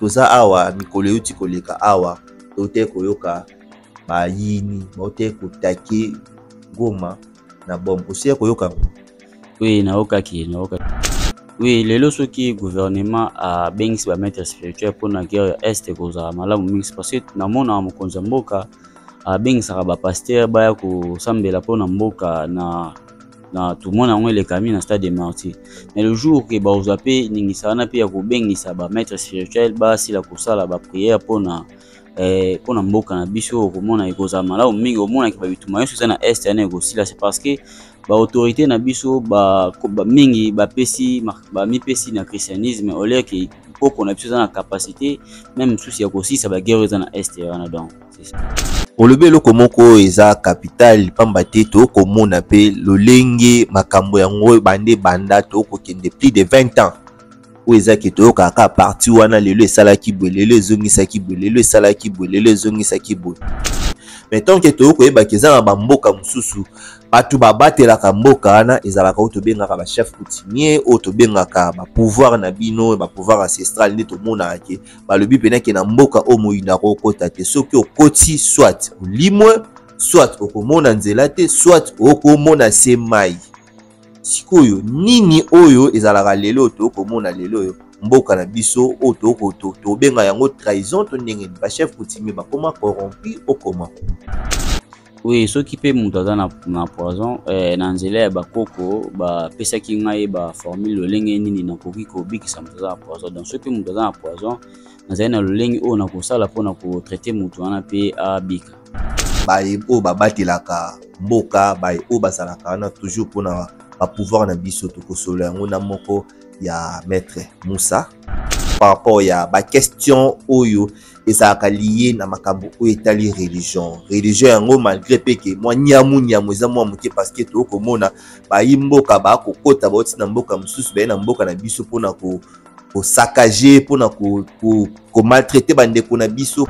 toza awa mikolo euti koleka awa toutaki koyoka bayini bautaki kotake goma na bom osia koyoka yango oui nayokaki nayokaki oui lelo soki gouvernement abengisi bamaître spirituel mpo na guerre ya est ekozala malamu mingi parce que namona mokonzi ya mboka abengisaka bapaster baya kosambela mpo na mboka na na tournoi na yango elekami na stade de martyr mais le jour ke bakozwa mpe ningisa wana mpe ya kobengisa bamaître spirituel basila kosala baprière mpo na eh, mpo na mboka na biso okomona ekozala malamu mingi omonaki babituma nyonso eza na est yana ekosila c'est parce que baautorité na biso ba, ba, mingi bapesi bamipesi na christianisme oleke mpoko na biso eza na capacité meme mosusu ya kosisa baguerre eza na est wana donc olobi eloko moko oyo eza kapitale mpamba te tokomona mpe lolenge makambo yango ebande banda tokokende plus de 20 ans oyo ezaki toyokaka kaka parti wana lelo esalaki boye lelo ezongisaki boye lelo esalaki boye lelo ezongisaki boye mais tant ke toyei koyebaka eza na bamboka mosusu bato babatelaka mboka wana ezalaka oyo tobengaka bachef coutumier oyo tobengaka bapouvoir na bino bapouvoir ancestral nde tomonaka ke balobi mpena ke na mboka oyo moyinda akokota te soki okoti soit olimwe soit okomona nzela te soit okomona se mai sikoyo nini oyo ezalaka lelo tokomona lelo oyo mboka na biso oyo tobenga yango trahison to ndenge nini bachef coutumier bakoma corrompu okoma Oui, soki pe mutu aza na, na poison eh, na nzela ya bakoko bapesaki ngai ba formule lolenge nini nakoki kobikisa mutu aza na poison. Donc soki pe mutu aza na poison, nazali na lolenge oyo nakosala mpo na kotraite mutu wana pe abika. Baye oyo babatelaka mboka, baye oyo bazalaka wana toujours mpo na ba pouvoir na biso, tokosolola yango na moko ya maître Moussa par rapport ya ba question oyo ezalaka liye na makambo oyo etali religion religion yango malgré mpe ke mwa nyamu nyamu eza mwa moke parceke toyei komona bayi mboka bakokota bauti na mboka mosusu baye na mboka na biso mpona kosakage mpona komaltraite bandeko na biso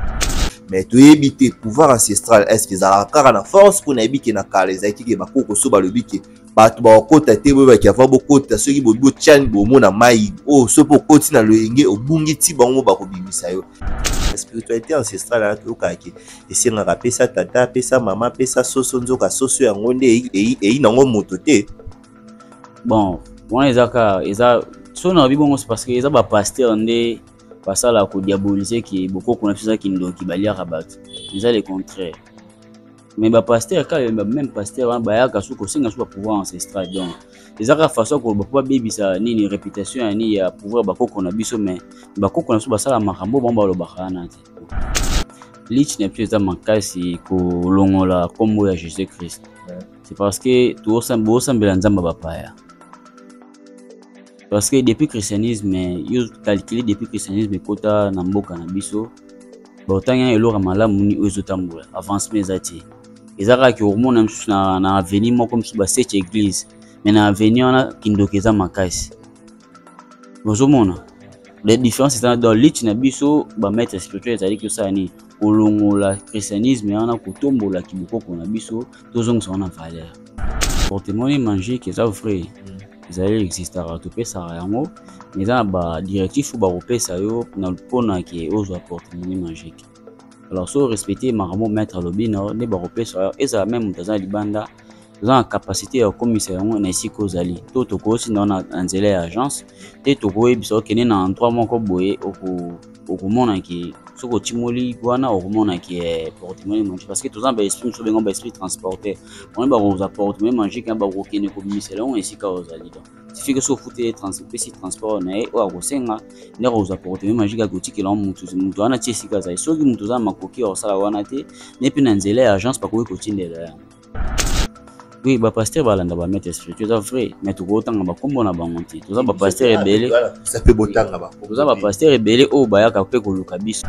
mais toyebi te pouvoir ancestral estce ezalaka kaka na force mpo nayebi ke na kala ezalaki ke bakoko so balobi ke bato bakokota te boyebaki ava bokota soki bobi botyani bomo na mai oyo oh, soki okoti na loyenge obungi ti bango bakobimisa yo spiritualité ancestrale wana toyokaka ke esengaka pesa tata pesa mama pesa soso nzoka soso yango nde eyi nango moto te bon wana eza kaka eza so na bibongo parce que eza bapaster nde basala kodiabolise ke bokoko na biso eza kindoki baliaka bato eza le contraire mais ba pasteur kala ba même pasteur wana bayaka su kosenga su ba pouvoir ancestral donc eza kaka façon koloba mpo babebisa nini réputation ya nini ya pouvoir bakoko na biso mais bakoko na biso basala makambo bango balobaka wana te lich na biso eza makasi kolongola nkombo ya jésus christ c'est parce que bosambela nzambe bapaya parce que depuis christianisme yo calcule depuis christianisme ekota na mboka na biso baotangi na eloko ya malamu nini oyo ezotambola avancement eza te eza kaka ke okomona mosusu na, na avenir moko mosusu baseche eglise mais na avenir wana kindoki eza makasi ozomona la différence eza dans lutte na biso bamaître spirituel ezali kosala nini kolongola christianisme wana kotombola kibokoko na biso tozongisa wana valeur portemone magique eza vrai mm. ezali existaka topesaka yango mais eza na badirectif oyo bakopesa yo mpona ke ozwa portemone magique alors so respecte makambo maître alobi na nde bakopesa yo ezala meme moto aza na libanda oza na capacité ya kokomisa yango na esika ozali to tokoyosi na yo na nzela ya agence te tokoyebisa okende na endroit moko boye oko okomona ke soki otimoli wana okomona ke eh, portemone magique parce que toza na baesprit mosusu bengo baesprit transporter bamoni bakozwa portemone magique na bakokende kobimisela yango esika ozali donc tifike so ofuteli pesi transport na ye oyo akosenga nde akozwa portemone magique akotikela yango motu motu wana ti esika azali soki motu oza na makoki ya kosala wana te ne mpe na nzela ya agence bakoki kotindela yango oui bapasteur balanda bamete spirituel eza vrai mais tokotanga bakombo na bango te toza bapasteur ebele toza bapasteur ebele oyo bayaka mpe koluka biso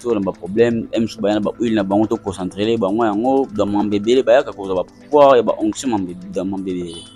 to na baproblème msu baya na bahuile na bango toconcentrele bango yango bamambe ebele bayaka kozwa bapouvoir ya baonction mambe ebele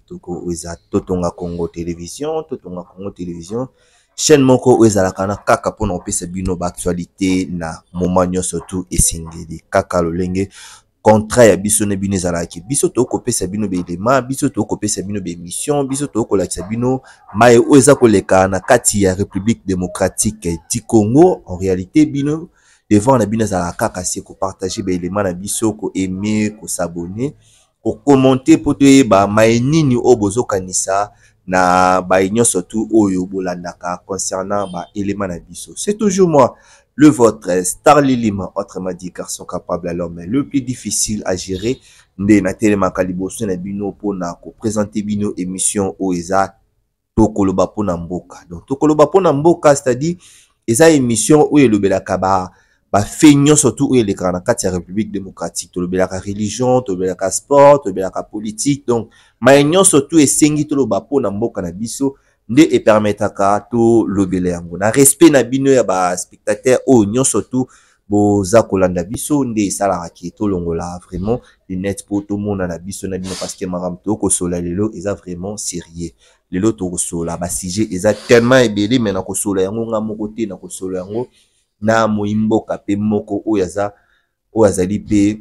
toko eza totonga congo television totonga congo television chaîne moko oyo ezalaka na kaka mpona kopesa bino baactualité na moment nyonso tu esengeli kaka lolenge contrat ya biso na bino ezalaki biso tokoki kopesa bino baelema biso tokoki kopesa bino baémission biso tokoki kolakisa bino mai oyo eza koleka na kati ya république démocratique du congo en réalité bino devant na bino ezalaka kaka se kopartage baelema na biso koaime kosabonne kokomente mpo toyeba maye nini oyo bozokanisa na baye nyonso tu oyo bolandaka concernant baelema na biso c'est toujours moi le votre star lilima autrement dit garçon capable à l'homme le plus difficile à gérer nde natelemaka liboso na bino mpo na kopresente bino émission oyo eza tokoloba mpo na mboka donc tokoloba mpo na mboka c'est-à-dire eza émission oyo elobelaka ba bafe nyonso tu oyo elekaka na kati ya république démocratique tolobelaka religion tolobelaka sport tolobelaka politique donc maye nyonso tu esengi toloba mpo na mboka na biso nde epermetaka tolobela yango na respect na bino ya baspectateur oyo nyonso tu boza kolanda biso nde esalaka ke tolongola vraiment lunette mpo tomonana biso na bino parce que makambo tokosola lelo eza vraiment sérieux lelo tokosola basujet eza tellement ebele me nakosola yango nga moko te nakosola yango na moyi mboka mpe moko oyo aza oyo azali mpe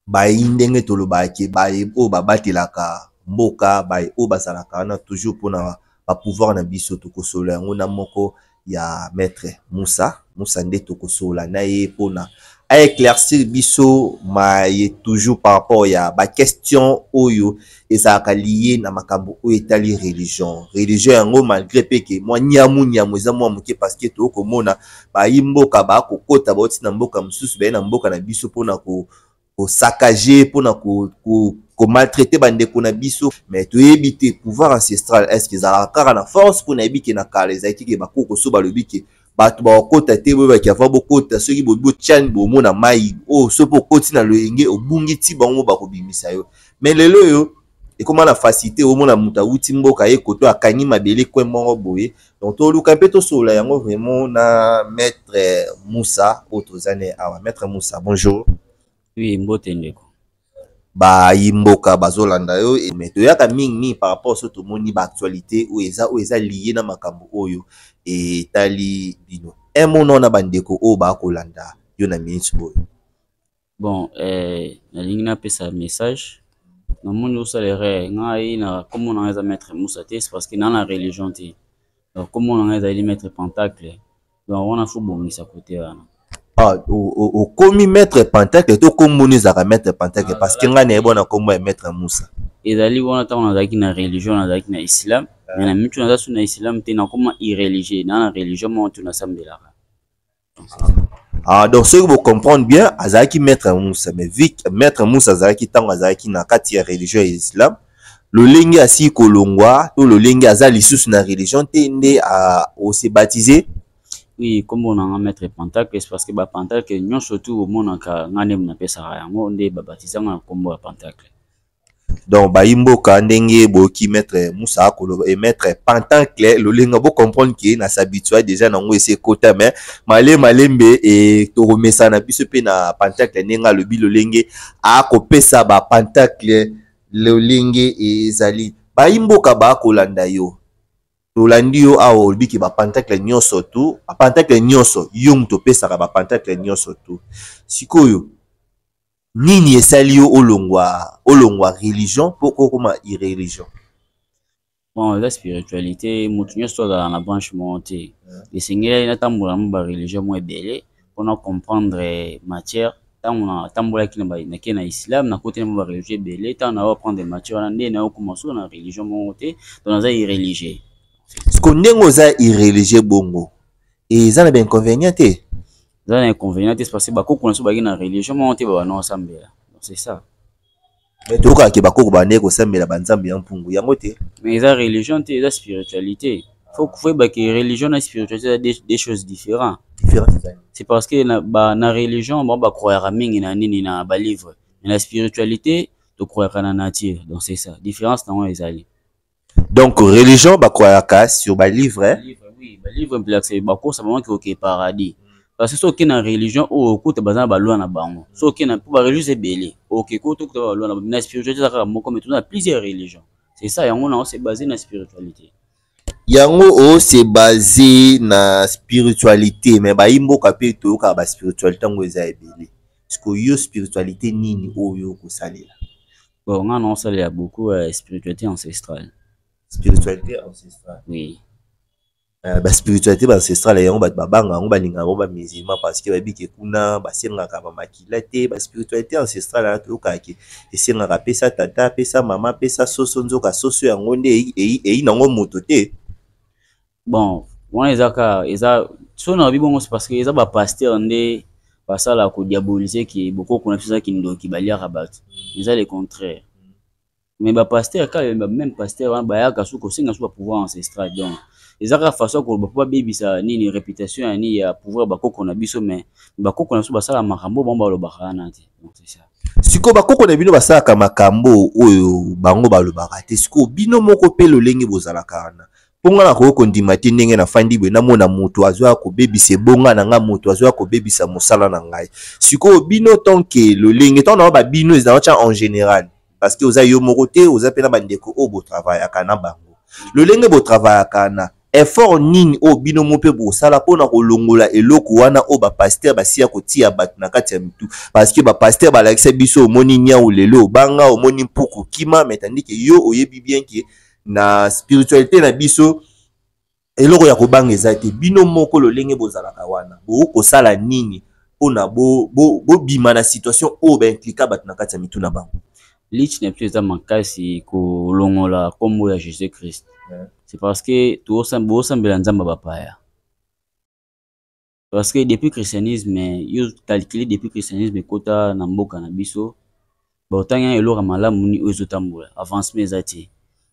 bayi ndenge tolobaka ke baye oyo babatelaka mboka baye oyo bazalaka wana toujours mpona ba pouvoir na biso tokosolola yango na moko ya maitre musa musa nde tokosolola na ye mpona a eclaircir biso maye toujours par rapport ya ba question oyo ezalaka liye na makambo oyo etali religion religion yango malgré mpe ke mwa nyamu nyamu eza mwa moke parceke toyoi komona bayi mboka bakokota bauti na mboka mosusu baye na mboka na biso mpona kosakage mpona komaltraite bandeko na biso mais toyebi te pouvoir ancestral estce ezalaka kaka na force mpo nayebi ke na kala ezalaki ke bakoko so balobi ke bato bakokota te boyeba ki avant bokota soki botiani bomo na mai oyo oh, soki okoti na loyenge obungi ti bango bakobimisa yo mais lelo oyo ekoma na facilité omona moto awuti mboka ye koto akangi mabele kwe moko boye donc toluka mpe tosolola yango vraiment na maître moussa oyo toza ne awa maître moussa bonjour Oui, mbote ndeko. bayi mboka bazolanda yo me toyaka mingi mingi par rapport so tomoni baactualité oyo eza oyo eza lie na makambo oyo etali bino emona na bandeko oyo bakolanda yo na minute oyo bon eh, nalingi napesa message namoni osala erreur ngai na komona ngai eza maître musa te parce que naa na religion te donc komona ngai ezali maître pentacle donc wana fo bongisa kote wana ah, okomi maître pentacle to kombo no ezalaka maître pentacle ah, parce que ngai nayebi wana kombo ya maître musa ezali wana ntango nazalaki na religion nazalaki na islam ah. me na mitu naza su na islam te nakoma irreligieux naa na religion moko tu nasambelaka Ah, donc soki bocomprendre bien azalaki maître musa mais vi maître musa azalaki ntango azalaki na kati ya religion ya islam lolenge asili kolongwa to lolenge aza lisusu na religion te nde ose baptise oui nkombo na nga maître pantacles parce que bapantacles nyonso tu omonaka nga nde napesaka yango nde babatisa nga na nkombo ya pantacle donc bayi mboka ndenge boyoki maître musa akoloba e maître pantacle lolenge bocomprendre ke na s'habitua déjà nango esi ekota mais male malembe e tokomesana biso mpe na pantacle ndenge alobi lolenge akopesa bapantacle lolenge ezali bayi mboka bakolanda yo tolandi yo awa olobi ke bapantakle nyonso tu bapantakle nyonso yo moto opesaka bapantakle nyonso tu sikoyo nini esali yo olongwa olongwa religion mpo kokoma irreligion bon eza spiritualité moto nyonso azala na branche moko te esengelaki natambola na ba religion mwa ebele mpona comprendre matière ntango natambolaki nake na islam nakoti na mwa ba religion ebele ntango nayo aprendre matière wana nde nayo koma solo na religion moko te to naza irreligieux siko ndenge oza irreligieux bongo eza na bainconvénient te eza na inconvénient te parce que bakoko na biso baki na religion moko te babanao asambela c'est ça mais tokaka ke bakoko bandeki kosambela banzambe ya mpungu yango te mais eza religion te eza spiritualité faut koyeba ke religion na spiritualité eza des, des choses différents c'est parce que na, ba, na religion bango bakroyaka mingi na nini na balivre mais na spiritualité tokroyaka na nature donc c'est ça différence na yango ezali Donc religion ba croyaka sur ba livre. Hein? Livre oui, ba livre mpela c'est ba kosa bango ki oke paradis. Parce que soki na religion oyo okuta baza na ba loi na bango. Soki na pour ba religion ebele, oke ko to kuta ba loi na bango. Na spiritualité kaka moko mais tuna plusieurs religions. C'est ça yango na c'est basé na spiritualité. Yango o c'est basé na spiritualité mais ba imboka pe to yoka ba spiritualité ngo eza ebele. Siko yo spiritualité nini oyo kosalela? Bon, nga non sale ya beaucoup euh, spiritualité ancestrale. Spiritualité ancestrale. Oui. Euh, ba spiritualité ba ancestrale yango bato babanga yango balinga yango bamusulman parce que bayebi ke kuna basengaka bamakila te ba spiritualité ancestrale wana toyokaka ke esengaka apesa tata apesa mama apesa soso nzoka soso yango nde eyi nango moto te bon wana eza ka eza so nalobi bongo se parce que eza bapasteur nde basala kodiabolise ke bokoko na biso eza kindoki baliaka bato eza le contraire mais bapasteur kaka bameme pasteur wana bayaka su kosenga su bapouvoir ancestral donc eza kaka façon koloba mpo babebisa nini réputation ya nini ya pouvoir bakoko na biso mais bakoko na biso basala makambo bango balobaka wana te donc c'est ça sikoyo bakoko na bino basalaka makambo oyo bango balobaka te sikoyo bino moko mpe lolenge bozalaka wana mpo ngai nakoki kondima te ndenge nafandi boye namona moto azoya kobebisa ebonga na ngai moto azoya kobebisa mosala na ngai sikoyo bino tanke lolenge ntango na ba bino ezala tya en général parce que oza yo moko te oza mpe na bandeko oyo botravayaka na bango lolenge botravayaka na effort nini oyo bino mo mpe bosala mpo na kolongola eloko wana oyo bapaster basiya kotia bato na kati ya mitu parceke bapaster balakisa biso omoni niau lelo obanga omoni mpuku kima metandike yo oyebi bien ke na spiritualité na biso eloko ya kobanga eza te bino moko lolenge bozalaka wana bokoki kosala nini mpona bobima bo, bo, bo na situation oyo baimplika bato na kati ya mitu na bango lich na biso eza makasi kolongola nkombo ya jésus christ c'est parce que bosambela nzambe bapaya Parce que depuis christianisme, yo calculer depuis christianisme ekota na mboka na biso, ba otangi na eloko malamu ni ozo tambola, avancement eza te.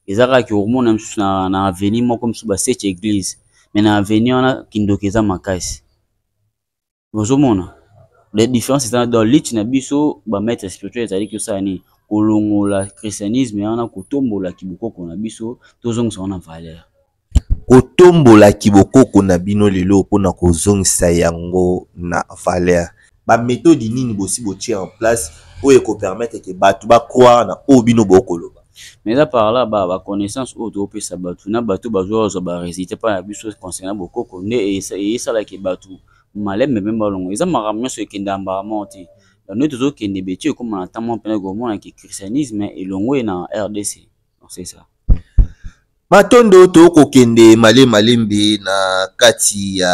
Eza kaka ki hormone misusu na, na avenue moko misusu ba seche église, mais na avenue wana kindoki eza makasi. Bozo mona? La différence eza dans lutte na biso ba maître spirituel ezali ki osala nini? Kolongola christianisme wana kotombola kibokoko na biso, tozongisa wana valeur. Kotombola kibokoko na bino lelo mpo na kozongisa yango na valere. Bametodi nini bosi botie en place oyo ekopermetre ke bato bacroire na oyo bino bokoloba? Mais à part là ba ba connaissance oyo to pesa batu na batu bazo bazwa ba resultat pa na biso concernant bokoko nde esala ke batu malembe meme balongo eza makambo nyonso ekenda mbala moko te bande tozo kende beti ekoma na temps moko pene komona ke christianisme elongwe na rdc c'est ça matondo tokokende male malembe na kati ya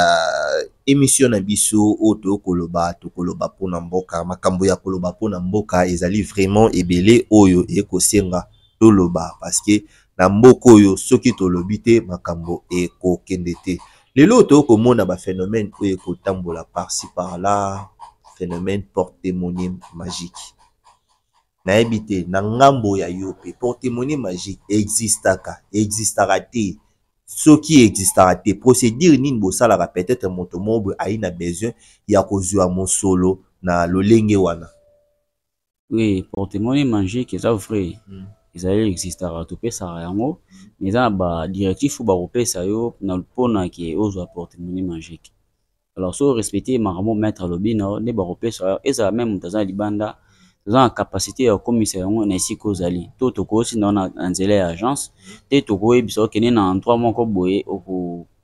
emission na biso oyo tokoloba tokoloba mpona mboka makambo ya koloba mpona mboka ezali vraiment ebele oyo ekosenga toloba parce que na mboka oyo soki tolobi te makambo ekokende te lelo oyo tokomona baphénomène oyo ekotambola parci par là phénomène porte monime magique Nayebi te na ngambo ya yo pe porte-monnaie magique e existaka? E existaka te. Soki e existaka te procedure nini bosalaka peut-etre moto moko boye aye na besoin ya kozua mosolo na lolenge wana? Oui, porte-monnaie magique eza vrai. Ezali e existaka topesaka yango mais eza na ba directif oyo bakopesa yo na pona ke ozua porte-monnaie magique. alors so respecte makambo maître alobi na yo nde bakopesa yo ezala meme moto aza na libanda toza na capacité ya kokomisa yango na esika ozali to tokoyosi na yo na nzela ya agence te tokoyebisa okende na endroit moko boye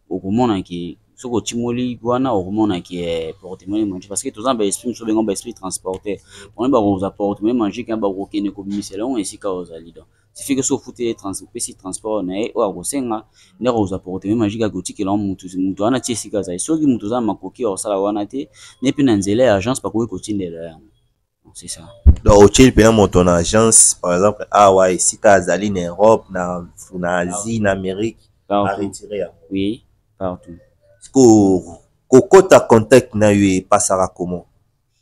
okomona ke soki otimoli wana okomona ke eh, portemone magique parce que toza na baesprit mosusu bengo baesprit transporter boni bakozwa portemone magique ya bakokende kobimisela yango esika ozali donc suffit que so ofuteli trans opesi transport na ye oyo akosenga nde akozwa porteme magique akotikela wa motu motu wana ti esika azali soki motu oza na makoki ya kosala wana te ne mpe na nzela ya agence bakoki kotindela yango c'est ça donc otyeli mpena moto na agence par exemple awa ah esika azali na europe na, na asie na amérique aretire yango oui partout sikoyo kokota contact na yo epasaka comment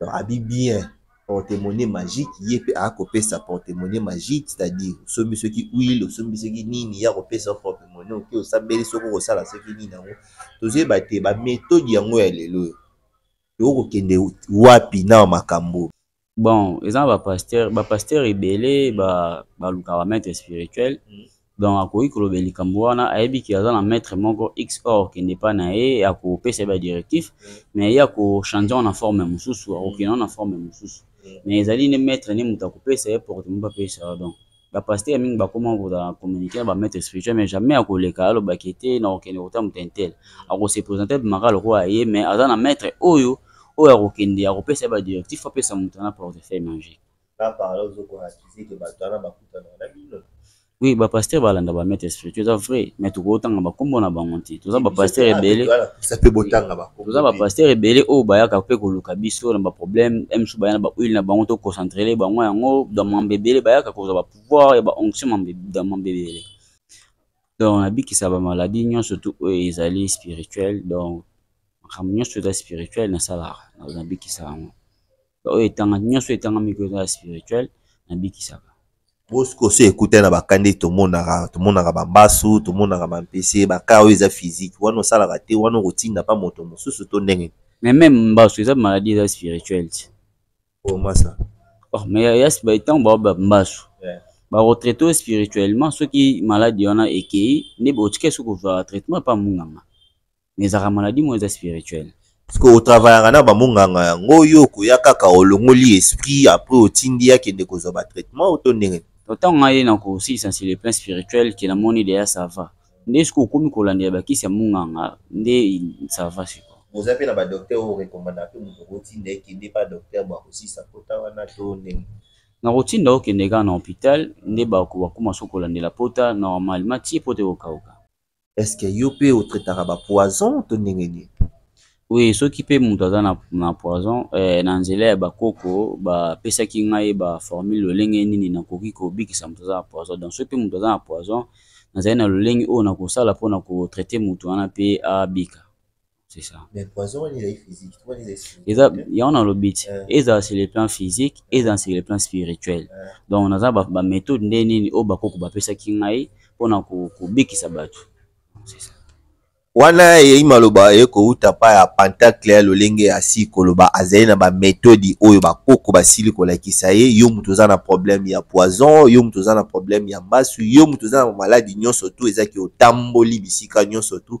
Donc abi bien porte-monnaie magique ye pe a ko pesa porte-monnaie magique c'est-à-dire sombi soki huile sombi soki nini ya ko pesa porte-monnaie oke osambeli soki ko sala soki nini yango tozo yeba te ba methode yango ya lelo yo ko kende wapi na makambo bon eza ba pasteur ba pasteur ebele ba ba luka ba maître spirituel mm. donc akoki kolobela likambo wana ayebi ke aza na maître moko x or kende epai na ye akopesa ye badirectif mais ye akochange yango na forme mosusu akokende yango na forme mosusu mais ezali nde maître nde moto akopesa ye porte moto apesa yo donc bapaster mingi bakoma kozala communique na bamaître spirituel mais jamais akoleka alobaki te na kokende kota moto intel akose présente bimaka lokola ye mais aza na maître oyo oyo akokende akopesa ye badirectif apesa moto na portefeuille magique Là par là ozo ko accuser que bato wana bakutana na bino. Oui, ba pasteur balanda ba maître spirituel eza vrai, mais tokotanga ba kombo na bango te. Toza ba pasteur ebele. Ça peut botanga ba kombo. Toza ba pasteur ebele oyo bayaka pe koluka biso na ba problème, même si bayana ba huile na bango to concentrer les bango yango dans mambe ebele bayaka kozwa ba pouvoir ya ba onction mambe dans mambe ebele. Donc nabikisa ba maladie nyonso tout oyo ezali spirituel donc makambo nyonso eza spirituel nasalaka nabikisa yango oyo etanga nyonso etangami ko eza spirituel nabikisaka bosiko so ekutani na bakande tomonaka tomonaka bambasu tomonaka bampese baka oyo eza physique wana osalaka te wana okotinda mpa moto mosusu to ndenge mais meme mbasu eza maladie eza spirituel ti omasa oh, oh mais ntango bao bambasu bakotraite oyo spirituellement soki maladi wana ekei nde botika soki kozwaka traitement mpa munganga mais ezalaka maladie moko eza spirituel parceke otravayaka na bamonganga yango yo okoya kaka olongoli esprit apres otindi akende kozwa batraitement oto ndenge ntango ngai ye na kosilisa nse le plan spirituel ke namoni deya sava nde soki okomi kolandela bakisi ya monganga nde sava siko oza mpe na badoktere oyo orekomanda mpe moto okotinda ekende mpa doktere bakosilisa mpota wana to ndenge nakotinda okende kaka na hopital nde bakoma soki kolandela mpota normalement ti mpota ekokauka est ce que yo mpe otraitaka bapoison to ndenge nini oui soki mpe moto aza na, na poison eh, na nzela ya bakoko bapesaki ngai baformule lolenge nini nakoki kobikisa moto aza na poison donc soki mpe moto aza na poison nazali na lolenge oyo nakosala mpo na kotraite moto wana mpe abika c'est ça mais poison wana ezali physique to wana ezali eza yango nalobi ti eh. ezala sur le plan physique eh. ezala sur le plan spirituel eh. donc naza baméthode nde nini oyo bakoko bapesaki ngai mpona kobikisa bato c'est ça wana eyei maloba eye kouta mpa ya pentacle ya lolenge ya si koloba azali na bametodi oyo bakoko basili kolakisa ye yo moto oza na problème ya poison yo moto oza na problème ya mbasu yo moto oza na maladi nyonso tu ezaki otamboli bisika nyonso tu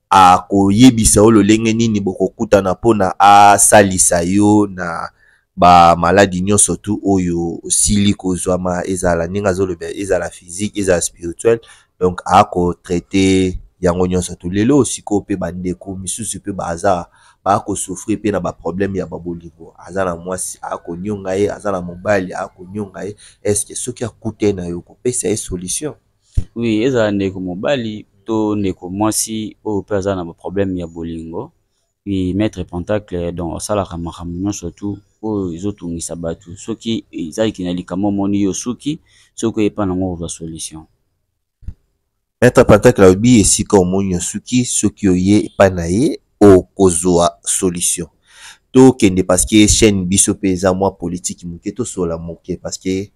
akoyebisa yo lolenge nini bokokutana mpo na asalisa yo na bamaladi nyonso tu oyo osili kozwama ezala ndenge azoloba ezala physique ezala spirituel donc akotraite yango nyonso tu lelo osiko mpe bandeko misusu mpe baza bakosouffrir mpe na baproblème ya babolingo aza na mwasi akonionga ye aza na mobali akonionga ye estce soki akute na yo kopesa ye solution Oui, ezala ndeko mobali to ndeko mwasi oyo mpe aza na problème ya bolingo. Oui, maître Pentacle donc asalaka makambo nyonso tout oyo ezotungisa bato. Soki ezalaki na likambo omoni yo osuki, soki oye epai na yango okozwa solution. Maître Pentacle alobi esika omoni osuki, soki oye epai na ye okozwa solution. Tokende parce que chaîne biso mpe eza mwa politique moke, tosolola moke parce que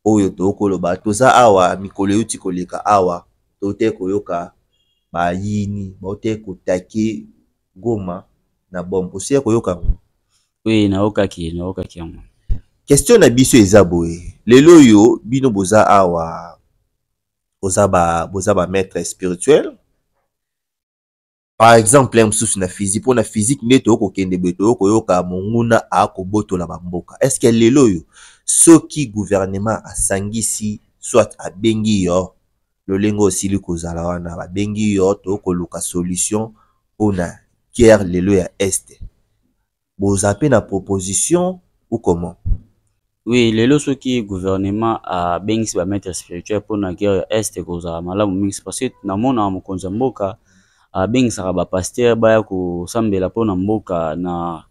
oyo tokoloba toza awa mikolo euti koleka awa tote koyoka bayini baote kotake goma na bombe osia koyoka yango oui nayokaki nayokaki yango question na biso eza boye lelo oyo bino boza awa boza ba boza ba maître spirituel par exemple mosusu na physique mpo na physique nde toyoko kokende boye toyoko koyoka monguna akobotola bamboka est ce que lelo oyo soki gouvernement asangisi soit abengi yo lolenge osili kozala wana babengi yo tokoluka solution mpo na guerre lelo ya este boza pe na proposition ou comment? Oui lelo soki gouvernement abengisi ba maitre spirituel pona guerre ya est ekozala malamu mingi parce que namona mokonzi ya mboka abengisaka ba pasteur baya kosambela pona mboka na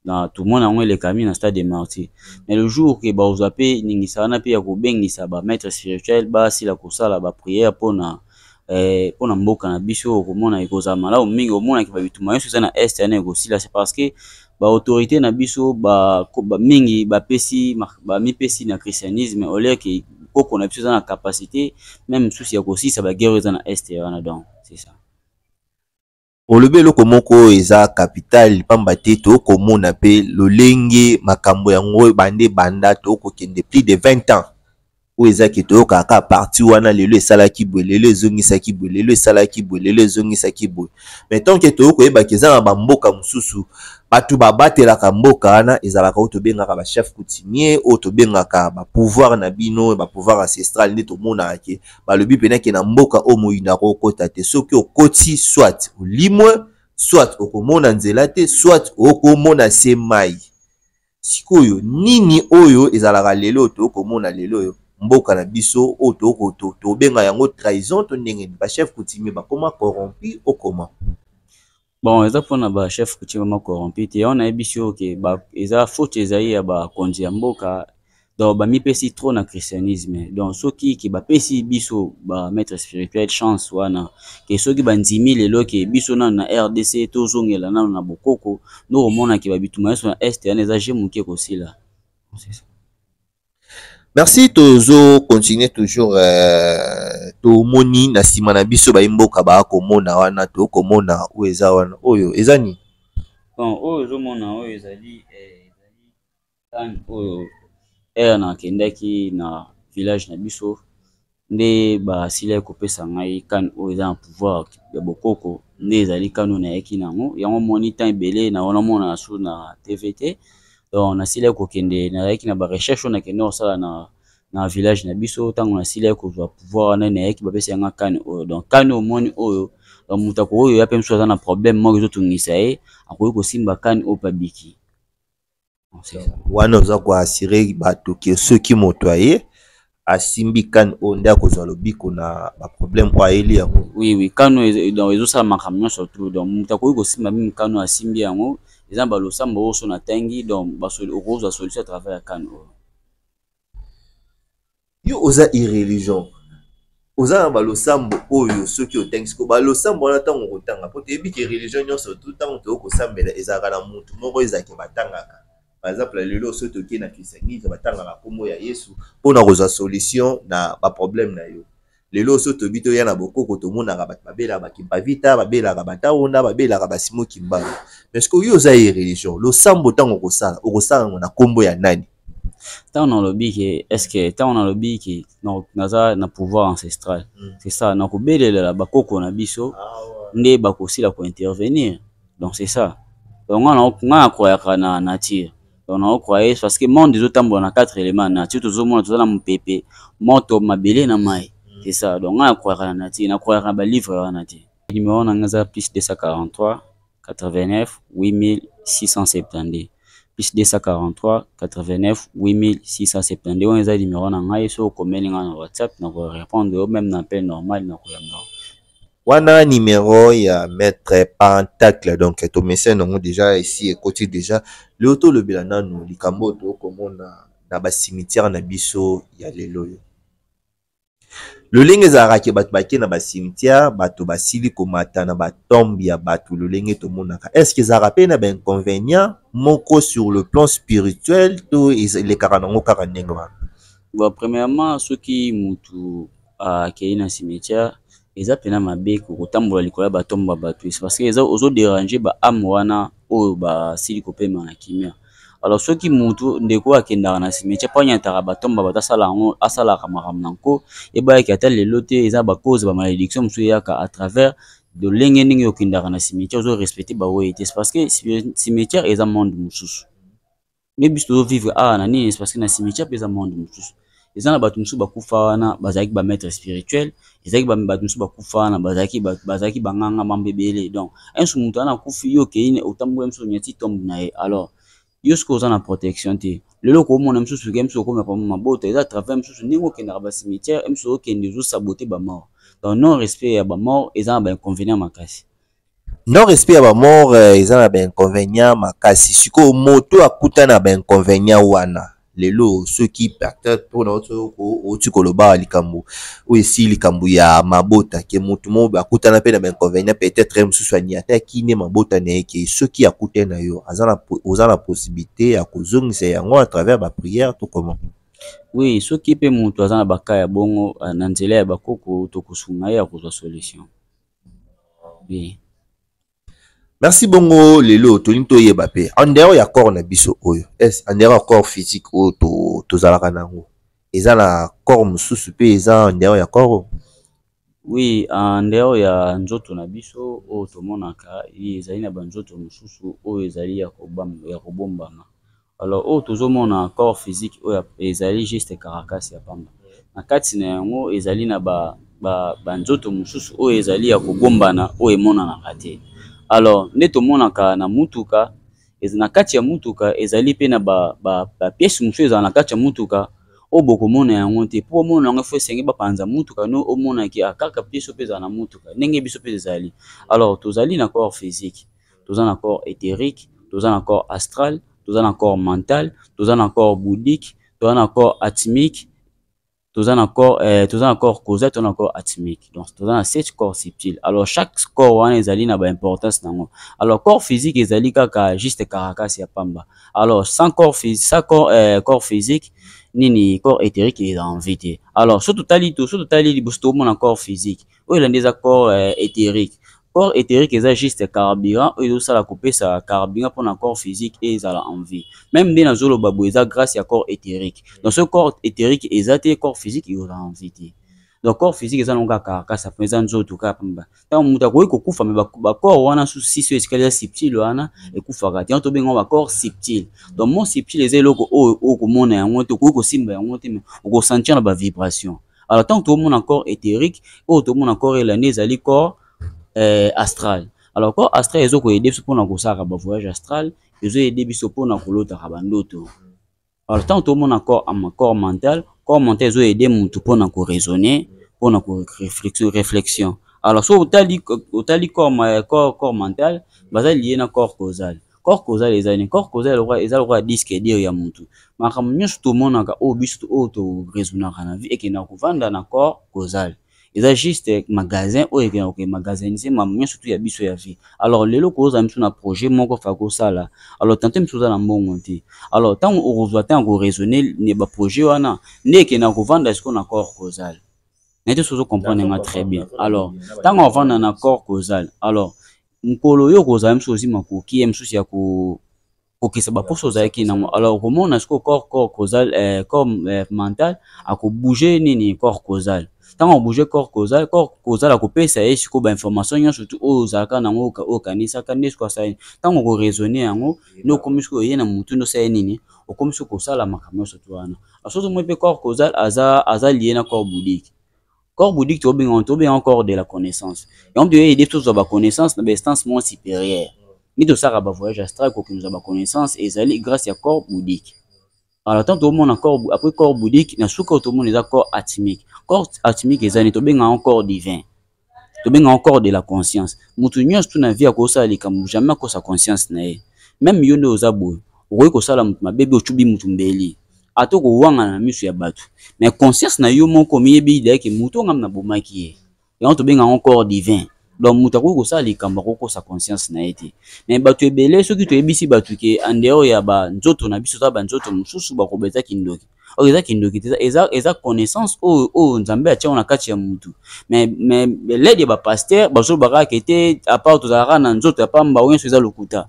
na tomona yango elekami na stade de martyr mais le jour ke bakozwa pe ningisa wana pe ya kobengisa ba maitre spirituel basila kosala ba prière pona eh, mpo na mboka na biso okomona ekozala malamu mingi omonaki babitumba nyonso eza na est yana ekosila se parce que baautorité na biso ba, ba, mingi bapesi bamipesi na christianisme olie ke koko na biso eza na capacité meme mosusu ya kosilisa baguerre eza na est wana donc c'est ça Olobi eloko moko oyo eza capital pamba te tokomona pe lolenge makambo yango ebanda ebanda tokokende plus de 20 ans oyo eza ke toyokaka kaka parti wana lelo esalaki boye lelo ezongisaki boye lelo esalaki boye lelo ezongisaki boye mais tant ke toyokoyebaka eza na bamboka mosusu bato babatelaka mboka wana ezalaka oyo tobengaka bachef coutumier oyo tobengaka bapouvoir na bino bapouvoir ancestral nde tomonaka ke balobi mpena ke na mboka oyo moyindo akokota te soki okoti soit olimwe soit okomona nzela te soit okomona se mai sikoyo nini oyo ezalaka lelo oyo tokomona lelo oyo mboka na biso oyo tokoto tobenga yango trahison to ndenge nini bachef coutumier bakoma corrompu okoma bon eza mpona ba chef coutume vraiment corrompu te yango nayebisi yo ke eza faute ezali ya bakonzi ya mboka donc bamipesi trop na christianisme donc soki ke bapesi biso ba maître spirituel chance wana ke soki bandimi lelo ke biso nano na rdc tozongela nano na bokoko ndokomona ke babituma nyonso na este wana eza je moke kosila merci tozo continuer toujours euh, tomoni na nsima na biso bayi mboka baa komona wana tokomona oyo eza wana oyo eza nini bon oyo ozomona oyo ezali eh, ezali tane oyo ere nakendaki na village na biso nde basilaki kopesa ngai kane oyo eza na pouvoir ya bokoko nde ezali kane oyo nayaki na yango yango moni temps ebele na wana mona na su na tv te donc nasilaki kokende nayaki na barecherche oyo nakende kosala na na village na biso ntango nasilaki kozwa pouvoir wana nayaki bapesa yanga kane oyo donc kane omoni oyo moto akokoki oya mpe mosusu aza na problème moko ezotungisa ye akoki kosimba kane oyo mpe abiki wana oza koassure bato ke soki moto aye asimbi kane oyo nde akozwa lobiko na baproblème oyo ayeli yango oui oui kane donc ezosala makambo nyonso tru donc moto akoki kosimba mimi kane oyo asimbi yango eza na balosambo oyo so natangi donc okozwa solution à travers ya kane oyo yo oza irreligion oza na balosambo oyo soki otangi siko balosambo wana ntango okotanga mpo toyebi ke religion nyonso tu ntango toyoi kosambela ezalaka na motu moko ezalake batangaka par exemple lelo soki tokei na christianisme batangaka nkombo ya yesu mpona kozwa solution na baproblème na yo lelo oso tobi toya na bokoko tomonaka bato babelaka bakimpavita babelaka bataona babelaka basimo kimbangu mais soki yo oza ye religion losambo ntango okosala okosala yango na nkombo ya nani ntango nalobi ke estce ntango nalobi ke naza na pouvoir ancestral hmm. c'est ça nakobelelela bakoko na biso ah, nde bakosila kointervenir donc c'est ça donc nga nakoyaka na nature donc nao croye parce que monde ezotambola na quatre élément nature tozomona toza na mopepe moto mabele na mai mm. c'est ça donc ngai nakroyaka na nature nakroyaka na balivre wana te numéro na ngai eza plus 243 89 8672 plus 243 89 8672 wana eza numéro na ngai soki okomeli ngai na whatsapp nakorepondre yo meme na appel normal nakoyamba wana numero ya maitre pentacle donc tomesene yango deja esi ekoti deja leo tolobela nanu likambo oyo tokomona na basimitiare na biso ya lelo oyo lolenge ezalaka ke bato bake na basimitiare bato basili komata na batombe ya bato lolenge tomonaka estce ezalaka mpe na bainconvenient moko sur le plan spirituel to elekaka nango kaka ndenge wana bon premièrement soki mutu akei na cimetière eza pena mabe kotambola likolo ya batombo ba bato esi parce que eza ozo derange ba ame wana oyo basili kopema na kimia alors soki mutu ndeko akendaka na cimetière mpo anyataka batombo ba bato asala yango asalaka makambo na nko ebayaki ata lelo te eza bacause ba malédiction mosusu eyaka à travers lolenge ndenge okendaka na cimetière ozo respecte baoyo ete parce que cimetière eza monde mosusu nde biso tozo vivre awa na nini parce que na cimetière mpe eza monde mosusu eza na bato mosusu bakufa wana bazalaki ba maître spirituel ezalaki bato mosusu bakufa wana bazalaki bazalaki banganga mambo ebele donc inso moto wana akufi yo okei otamboli mosusu onyati tombe na ye alors yo soki oza na protection te lelo okomona mosusu ke mosusu okomaka mabota eza travers mosusu ndenge okendaka ba cimetière mosusu okende ozosabote bamort donc non respect ya bamort eza na bainconvénient makasi Non respect ya ba mort eh, eza na ba inconvénient makasi. Sikoyo moto akuta na ba inconvénient wana. Lelo soki peut-être pona oto ko oti koloba likambo oyo esi likambo ya mabota ke moto mo akutana pe na ba inconvénient peut-être mosusu aniataki ne mabota na ye ke soki akute na yo aza na oza na possibilité ya kozongisa yango à travers ba prière to comment? Oui, soki pe moto aza na ba cas ya bongo na nzela ya bakoko tokosunga ye akozwa solution. bien merci bongo lelo tolingi toyeba mpe andero ya corps na biso oyo es andero ya corps physique oyo tozalaka na yango eza na corps mosusu mpe eza andero ya corps oyo oui andero ya nzoto na biso oyo tomonaka ye ezali na banzoto mosusu oyo ezali ya kobombama Alors oyo tozomona corps physique oyo ezali juste caracas ya pamba, na kati na yango ezali na ba banzoto mosusu oyo ezali ya kobombana oyo emonanaka te alors nde tomonaka na mutuka na kati ya mutuka ezali mpe na bapiese ba, ba mosusu ezala na kati ya mutuka oyo bokomona yango te mpo omona yango fo esenge bapanza mutuka no omonaki akaka ah, piese mpe ezala na mutuka ndenge biso mpe ezali alors tozali na corps physique toza na corps éthérique toza na corps astral toza na corps mental toza na corps bouddhique toza na corps atmique toza na corps euh, toza na corps causal toza na corps atmique donc toza na sept corps subtil alors chaque corps wana ezali na baimportance na yango alors corps physique ezali kaka juste caracas ya pamba alors sans corps, sans corps, euh, corps physique nini corps éthérique eza en vie te alors so totali to so totali liboso tokomona corps physique oyo elandi eza corps euh, éthérique corps éthérique eza juste carburant oyo ezosala kopesa carburant mpona corps physique e ezala en vie meme nde nazoloba boye eza grâce ya corps éthérique donc ce corps éthérique eza te corps physique eyola en vie te donc corps physique eza nango kaka kasa mpo eza nzoto kaka mpamba ntango moto akoki kokufa me bacorps wana susi so esika eza subtile wana ekufaka te yango tobengi yango bacorps subtile donc mon subtile eza eloko oyo okomona yango te okoki kosimba yango te me okosentir na bavibration alors ntango tokomona corps éthérique oyo tokomona corps ela nde ezali corps euh, astral alors corps astral ezo koyede biso mpona kosalaka bavoyage astral ezoyede biso mpona kolotaka bandoto alors ntango tokomona corps, corps mental corps mental ezoyede motu mpona koraisonne mpona réflexion alors soki otali, otali corps, corps, corps mental baza liye na corps causal corps causal eza nini corps causal lokola eza lokola disque dur ya mutu makambo nyonso tomonaka oyo biso oyo toresonaka na vie ekenda kovanda na corps causal eza juste magasin oyo ekenda koke magasinise makambo nyonso tu ya biso ya vie alors lelo koza miso na projet moko fa kosala alors tante miso oza na mbongo te alors ntango okozwa ntango koresone ne baprojet wana nde ekenda kovanda siko na corps causal nete sozo comprendre nga très bien alors ntango avanda na corps causal alors mokolo oyo okozala mosusu ozwi makoki ya mosusu ya kokokisa baposo ozalaki nango alors okomona sikoyo corps corps causal eh, corps eh, mental akobouge nini corps causal ntango akobouge corps causal corps causal akopesa ye sikoyo bainformation nyonso tu oyo ozalaka nango oyo okanisaka nde sikoyo asali ntango okoraisonne yango nde okomi sikoyo oye na motu nde osali nini okomi sikoyo kosala makambo nyonso tu wana asoki omoi mpe corps causal aza, aza lie na corps boudique corps bouddhique tobenga yango tobenga yango corps de la connaissance yango toye aide tozwa baconnaissance na bainstance moins supérieure nde tosalaka bavoyage astral kokende kozwa baconnaissance ezali grâce ya corps bouddhique alors ntango tomona corps après corps bouddhique na suka oyo tomona eza corps atimique corps atimique eza nini tobenga yango corps divin tobenga yango corps de la conscience moto nyonso tu na vie akosala likambo jamais akosa conscience na ye meme yo nde oza boye okoki kosala moto mabe bi ocubi moto mbeli ato kowangana na miso ya bato mais conscience na yo moko miyebi idayeke moto ngam na bomaki ye yango tobenga yango corps divin donc moto akoki kosala likambo akokosa conscience na ye te mais bato ebele soki toyebisi bato ke andehors ya banzoto na biso za banzoto mosusu bakoba eza kindoki oyo eza kindoki te eza, eza connaissance oyo oyo nzambe atiango na kati ya motu mais, mais lede ya bapaster bazolobaka ke te apart tozalaka na nzoto ya pamba oyo nyonso eza lokuta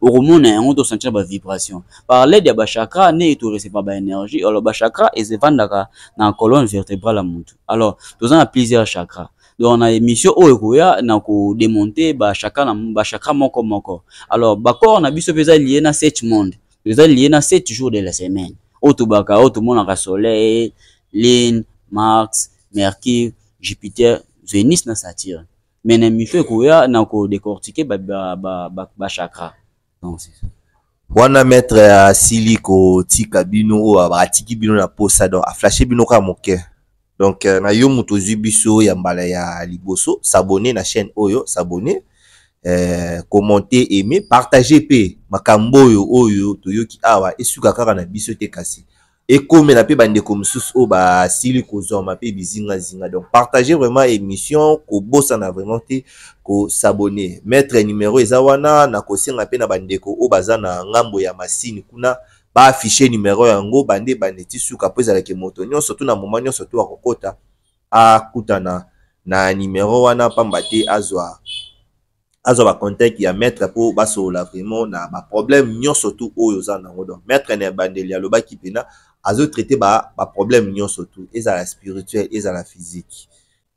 okomona yango to sentir ba vibration par l'aide ya ba chakra ne to recevoir ba énergie alors ba chakra ezevandaka na colonne vertébrale ya mutu alors toza na plusieurs chakra donc na émission oyo ekoya na ko démonter ba chakra na ba chakra moko moko alors ba corps na biso peza lié na sept monde eza lié na sept jours de la semaine oyo tobaka oyo tomonaka soleil lune mars mercure jupiter venus na saturne mais na mito ekoya na ko décortiquer ba ba ba, ba, ba chakra donc c'est ça wana maître asili kotika bino oyo atiki bino na posa donc aflashe bino kaka moke donc euh, na yo moto ozwi biso ya mbala ya liboso s'abonne na chaîne oyo s'abonne euh, commenter aimer partager mpe makambo oyo oyo toyoki awa esuka kaka na biso te kasi ekomela mpe bandeko mosusu oyo basili kozwama mpe bizingazinga donc partage vraiment émission kobosana vraiment te kosabone maître numero eza wana na kosenga mpe na bandeko oyo baza na ngambo ya masini kuna baaffiche numero yango bande bande ti suka mpo ezalaki moto nyonso to na moma nyonso to akokota akutana na numero wana mpamba te azwa azwa ba contact ya maître mpo basolola vraiment na ba problème nyonso tout oyo oza nango donc maître na ebandeli alobaki mpena azotraite ba, ba problème nyonso tout ezala spirituel ezala physique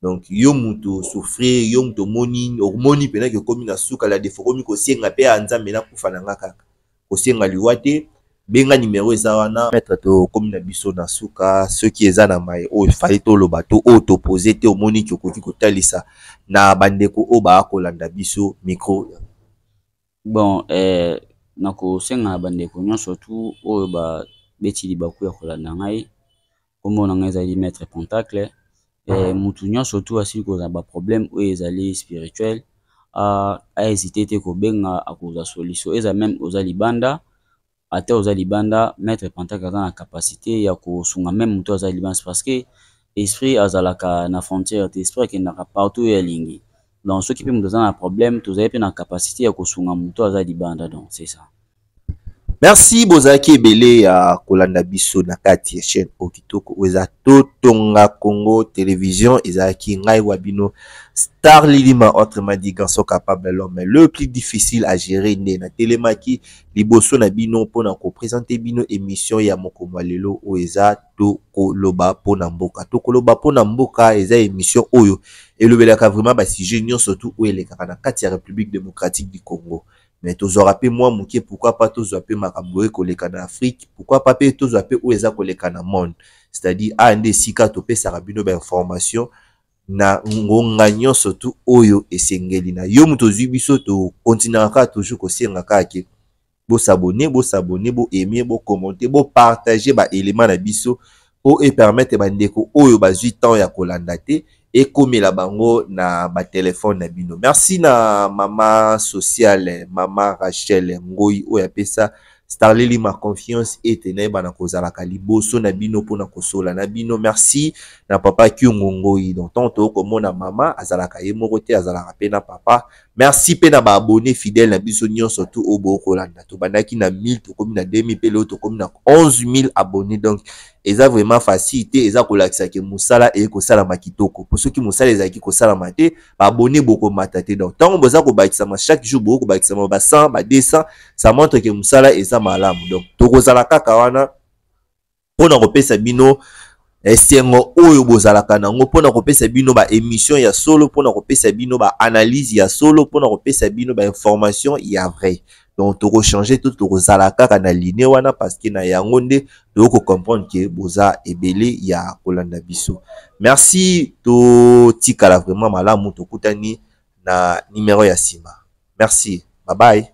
donc yo moto souffrir yo moto omoni omoni mpena ke okomi na suka la defo okomi kosenga mpe ya nzambe nakufa na nga kaka kosenga liwa te benga nimero eza wana maître tokomi na biso na suka soki eza na mai oyo efali toloba to oyo topose te omoni ti okoki kotalisa na bandeko oyo baa kolanda biso micro bon eh, nakosenga na bandeko nyonso tu oyo babeti libaku ya kolanda ngai kombo na ngai ezali maître pentacle eh, mutu nyonso tu asili kozala baproblème oyo ezali spirituel ahésite te kobenga akozwa solution eza meme oza libanda ata oza libanda maître pentacle aza na capacité ya kosunga meme motu aza libanda parce que esprit azalaka na frontière te esprit akendaka partout oyo alingi donc soki mpe moto aza na problème tozali mpe na capacité ya kosunga motu aza libanda donc c'est ça Merci bozalaki ebele ya kolanda biso na kati ya chaîne oyo kitoko oyo eza totonga Congo télévision ezalaki ngai wa bino Star Lilima entre madi garçon capable l'homme le plus difficile à gérer nde na telemaki liboso na bino mpo na kopresente bino émission ya mokolo ya lelo oyo eza tokoloba mpo na mboka tokoloba mpo na mboka eza émission oyo elobelaka vraiment basujet nyonso tu oyo elekaka na kati ya République démocratique du Congo mais tozwaka pe mwa moke pourquoi pas tozwa pe makambo oye koleka na afrique pourquoi pas pe tozwa pe oyo eza koleka na monde c'est à dire aya nde esika topesaka bino bainformation na ngonga nyonso tu oyo esengeli na yo moto ozwi biso tokontinaka kaka toujours kosenga kaka ke bosabone bosabone boaime bokommente bopartage baelema na biso mpo epermettre bandeko oyo bazwi temps ya kolanda te ekomela bango na batelefone na bino merci na mama sociale mama rachel ngoi oyo apesa starleli ma confiance ete nayebana kozalaka liboso na bino mpona kosola na bino merci na papa kyungu ngoi donc ntango tokoki komona mama azalaka ye moko te azalaka mpe na papa Merci pe na ba abonne fidèle na biso nyonso tout oyo boyo kolanda. Tobandaki na 1000 tokomi na 2000 pe leo tokomi na 11000 abonne donc eza vraiment facile te eza kolakisa ke mosala eye kosalama kitoko po soki mosala ezalaki kosalama te baabone bokomata te donc ntango boza kobakisama chaque jour bokoki kobakisama ba 100 ba 200 ça montre ke mosala eza malamu donc tokozala kaka wana mpo na kopesa bino esengo oyo bozalaka nango mpo na kopesa bino ba emission ya solo mpo na kopesa bino ba analyse ya solo mpo na kopesa bino ba information ya vrai donc tokochange to tokozala kaka na line wana parceke na yango nde toyei kocomprendre ke boza ebele ya kolanda biso merci totikala vraiment malamu tokutani na numero ya nsima merci babaye